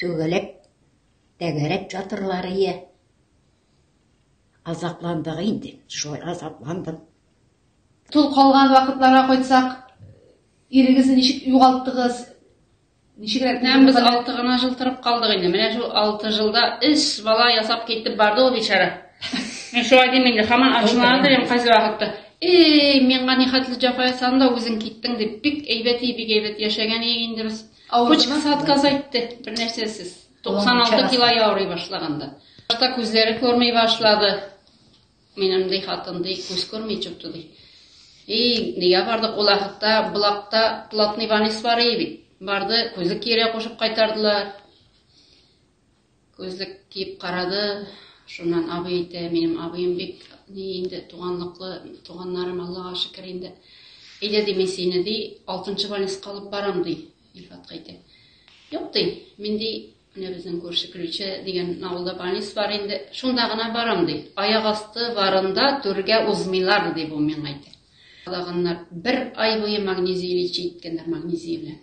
Түгәләп, тәгәрәп ятырлар ие. Азапландык инде, шулай азапландым. Тол калган вакытларга кайтсак, ирегезне ничек югалттыгыз? Ничегрәк Менә без алты гына жыл торып калдык инде. Менә шул алты жылда өч бала ясап китеп барды ул бичара. Мин шулай дим инде, хаман ачуланып торам кайсы вакытта. Эй, миңа нихәтле җафа ясадың да үзең киттең дип, бик әйбәт и, бик әйбәт яшәгән и инде без. Почкасы отказ әйтте, бер нәрсәсез. 96 кило яурый башлаганда. Башта күзләре күрми башлады. Минем ди хатын ди, күз күрми чыкты ди. И, нигә бардык ул ахта, булакта платный ванис бар иде бит. Барды, күзе кире кушып кайтардылар. Күзлек киеп карады, шуннан абый әйтә, минем абыем бик ни инде, туганлыклы, туганнарым, Аллага шөкер инде. Әйдә, ди, мин сине, ди, алтынчы больниска алып барам, ди, Илфатка әйтә. Юк, ди, мин, ди, менә безнең күрше Ключе дигән авылда больниц бар инде, шунда гына барам, ди. Аяк асты барында түргә узмыйлар, ди, бу миңа әйтә. Калаганнар, бер ай буе магнезий лечить иткәннәр, магнезий белән.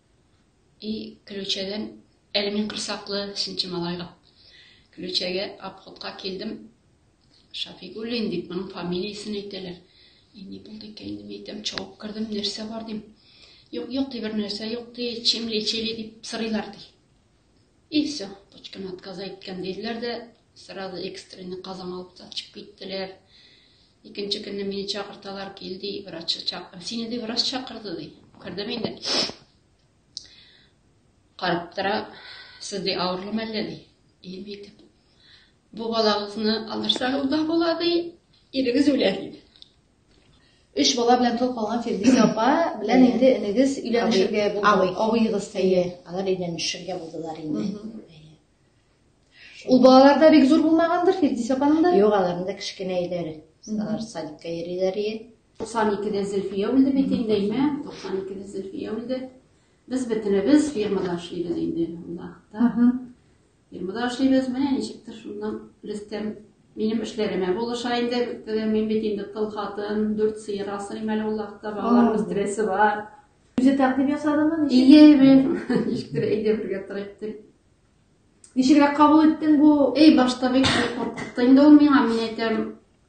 И көлүчәдән әле мин корсаклы, синче малайга. Көлүчәгә обходка килдем. Шафигуллин дип, моның фамилиясен әйтәләр. И ни булды икән инде, мин әйтәм, чабып кердем, нәрсә бар дим. Юк, юк, ди, бер нәрсә юк, ди, чем лечили дип сорыйлар, ди. И все, точканы отказа иткән диделәр дә, сразу экстренный казан алып та чыгып киттеләр. Икенче көнне мине чакырталар, кил ди, врач чак. Сине ди врач чакырды ди. Кердем инде. Карап тора, сез ди авырлы мәллә ди. И бит. Бу балагызны алырсагыз да була ди, ирегез үлә ди. Өч бала белән тол калган Фирдүсә апа белән инде энегез өйләнешергә булды. Абыегыз тие. Алар өйләнешергә булдылар инде. Ул балалар да бик зур булмагандыр Фирдүсә апаның да? Юк, аларның да кечкенә өйләре. Алар садикка йөриләр иде. 92-дә Зөлфия үлде бит инде, әйме? 92-дә Зөлфия үлде. Без бөтенебез фермада эшлибез инде, Улахта. Ирмыда эшлибез, менә ничектер шуннан Рөстәм минем эшләремә булыша инде. Теге мин бит инде тол хатын, дүрт сыер асрыйм әле ул якта, балалар үстерәсе бар. Үзе тәкъдим ясадыңмы? Ничек? Ие, мин ничектер әйдә бергә торыйк дип. Ничегрәк кабул иттең бу? Эй, башта бик куркытты инде ул миңа, мин әйтәм,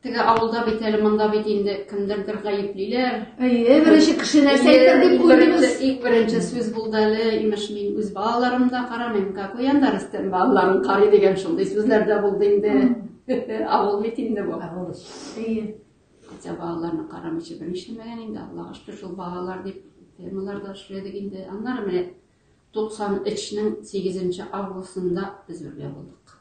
Теге авылда бит әле монда бит инде кемдердер гаеплиләр. Әйе, беренче кеше нәрсә әйтер дип куйдыгыз. Иң беренче сүз булды әле, имеш мин үз балаларым да карамыйм, как уян да Рөстәм балаларын карый дигән шундый сүзләр дә булды инде. Авыл бит инде бу. Авыл. Әйе. Хотя балаларны карамыйча беренче мәгән инде Аллага шөкер шул балалар дип темаларда эшләдек инде. Аннары менә 93 нең 8 августында без бергә булдык.